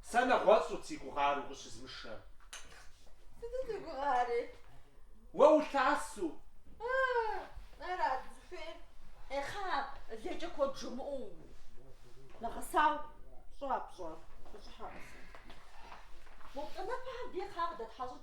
Сэ нэгъуэщӏт си гугъар укъыщызышэм. Сыту си гугъари. Уэ улъэсу. Арат узыхуейр. Ехъа, лейкӏэ куэд жумыӏэу. Нэгъэсауэ пщӏэ пщӏэр. Къыщӏыхьэ къэсэ. Мо плӏанэпэ абы ехъа къыдэтхьэщӏыкӏ.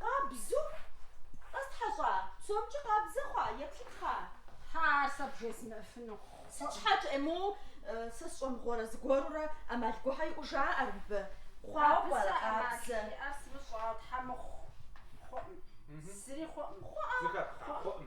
Къабзу? Къэптхьэщӏа? Псомкӏи къабзэ хъуа? Еплъыт хъа? Хьа, ар сэ бжесӏэфыну. Сыт щхьэкӏэ? Е моу сэ сщӏэмыгъуэрэ зыгуэрурэ ӏэмал гугьэ иӏэу жаӏэр мыбы. Хъуауэ пӏэрэ къабзэ? Абы сэ ӏэмал иӏэр сымыщӏауэ, тхьэ мыхъу. Хъуӏым. Зыри хъуӏым. Хъуӏэ? Хъуӏэ.